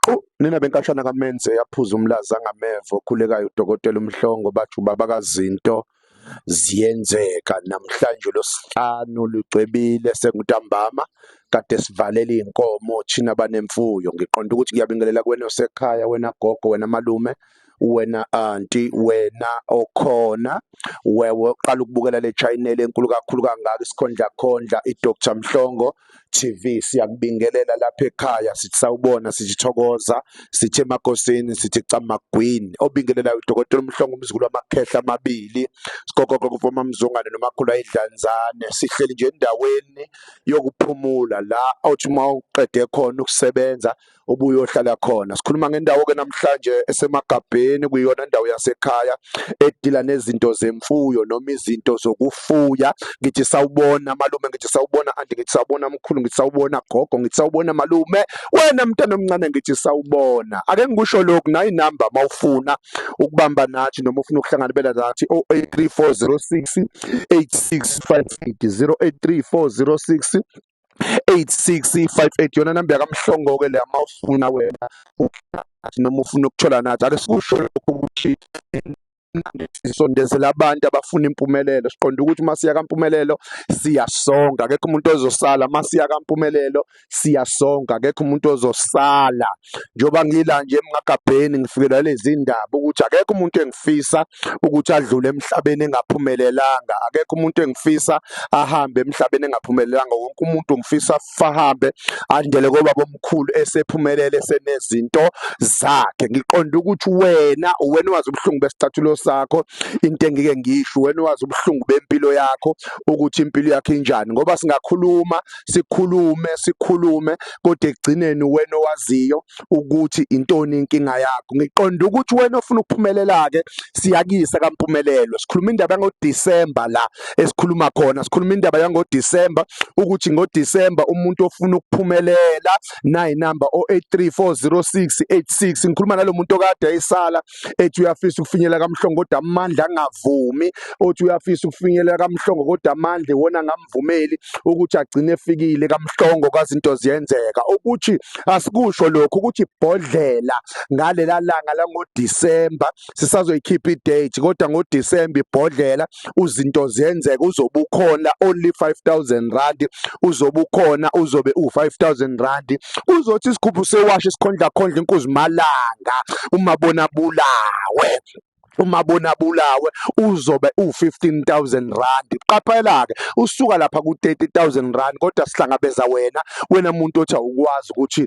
Qu, nina benkashana kaMenze yaphuza umlaza ngameva okhulekayo uDokotela uMhlongo bathi ubaba kaZinto ziyenzeka namhlanje losihlanu lucwebile sengutambama kade sivalela izinkomo thina banemfuyo ngiqonda ukuthi ngiyabingelela kwena osekhaya wena gogo wena malume wena anti wena okhona wewe uqala ukubukela le channel enkulu kakhulu kangaka isikhondla khondla iDr Mhlongo TV siyakubingelela lapha ekhaya sithi sawubona sithi thokoza sithi emakosini sithi camagwini obingelela uDr Mhlongo umzukulu wamakhehla amabili sikokoko kufoma mzungane nomakhulu ayidlanzane sihleli nje endaweni yokuphumula la othi uma uqede khona ukusebenza obuyohlala khona sikhuluma ngendawo ke namhlanje esemagabheni kuyona indawo yasekhaya edila nezinto zemfuyo noma izinto zokufuya ngithi sawubona malume ngithi sawubona anti ngithi sawubona mkhulu ngithi sawubona gogo ngithi sawubona malume wena mntana omncane ngithi sawubona ake ngikusho lokhu nayi number mawufuna ukubamba nathi noma ufuna ukuhlanganela nathi 083406 8658 083406 8658 yona namba yakamhlongo ke leya mawufuna wena ugathi noma ufuna ukuthola nathi ake sikusho lokho ukuthi sisondezela abantu abafuna impumelelo siqonda ukuthi uma siya kampumelelo siyasonga akekho umuntu ozosala uma siya kampumelelo siyasonga akekho umuntu ozosala njengoba ngila nje emngagabheni ngifikelwa lezi ndaba ukuthi akekho umuntu engifisa ukuthi adlule emhlabeni engaphumelelanga akekho umuntu engifisa ahambe emhlabeni engaphumelelanga wonke umuntu ngifisa fahambe andele kobaba omkhulu esephumelele senezinto zakhe ngiqonda ukuthi wena uwena wazi ubuhlungu besicathulo sakho into engike ngisho wena wazi ubuhlungu bempilo yakho ukuthi impilo yakho injani ngoba singakhuluma sikhulume sikhulume kodwa ekugcineni wena owaziyo ukuthi intoni inkinga yakho ngiqonda ukuthi wena ofuna ukuphumelela-ke siyakuyisa kampumelelo sikhuluma indaba yangodisemba la esikhuluma khona sikhuluma indaba yangodisemba ukuthi ngodisemba umuntu ofuna ukuphumelela nayi namba 08340686 ngikhuluma nalo muntu okade ayisala ethi uyafisa ukufinyelela kamhlongo kodwa amandla angavumi othi uyafisa ukufinyelela kamhlongo kodwa amandla iwona angamvumeli ukuthi agcine efikile kamhlongo kazinto ziyenzeka ukuthi asikusho lokho ukuthi ibhodlela ngalela langa langodisemba sisazoyikhipha idate kodwa ngodisemba ibhodlela uzinto ziyenzeka uzobe ukhona only 5000 rand uzobe ukhona uzobe u5000 rand uzothi isikhuphu sewashe sikhondla khondla inkuzimalanga uma bona bulawe uma bona bulawe uzobe u15000 rand qaphela ke usuka lapha ku30000 rand kodwa sihlangabeza wena wena muntu othi awukwazi ukuthi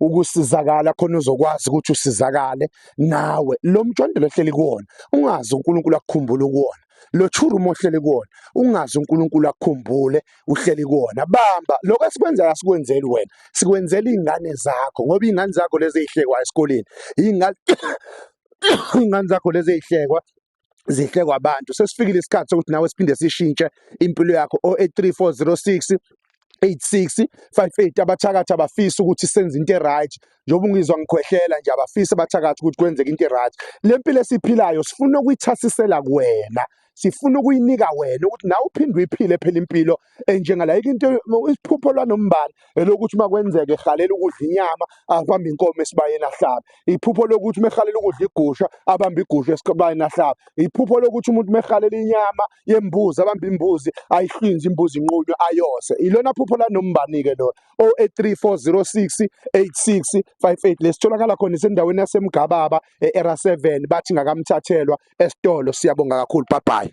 ukusizakala khona uzokwazi ukuthi usizakale nawe lo mjondolo ohleli kuwona ungazi uNkulunkulu akukhumbule kuwona lo churumo ohleli kuwona ungazi uNkulunkulu akukhumbule uhleli kuwona bamba lokho esikwenzayo asikwenzeli wena sikwenzela izingane zakho ngoba izingane zakho lezi ezihlekwa esikoleni izingane izingane zakho lezi ezihlekwa zinhle kwabantu sesifikile isikhathi sokuthi nawe siphinde sishintshe impilo yakho 083406 8658 abathakathi abafisa ukuthi senze into eright njengoba ungizwa ngikhwehlela nje abafisa abathakathi ukuthi kwenzeke into eright le mpilo esiphilayo sifuna ukuyithasisela kuwena sifuna ukuyinika wena ukuthi nawe uphinde uyiphile phela impilo eh, njengalayike into isiphupho lwanombala elokuthi uma kwenzeka ehalela ukudla inyama abambe inkomo esibayeni ahlabe iphupho lokuthi uma ehalela ukudla igusha abambe igusha esibayeni ahlabe iphupho lokuthi umuntu uma ehalela inyama yembuzi abambe imbuzi ayihlinze imbuzi inqunywe ayose ilona phupho lanombani-ke lona o-83406 8658 lesitholakala khona isendaweni yasemgababa e-era 7 bathi ngakamthathelwa esitolo siyabonga kakhulu bye bye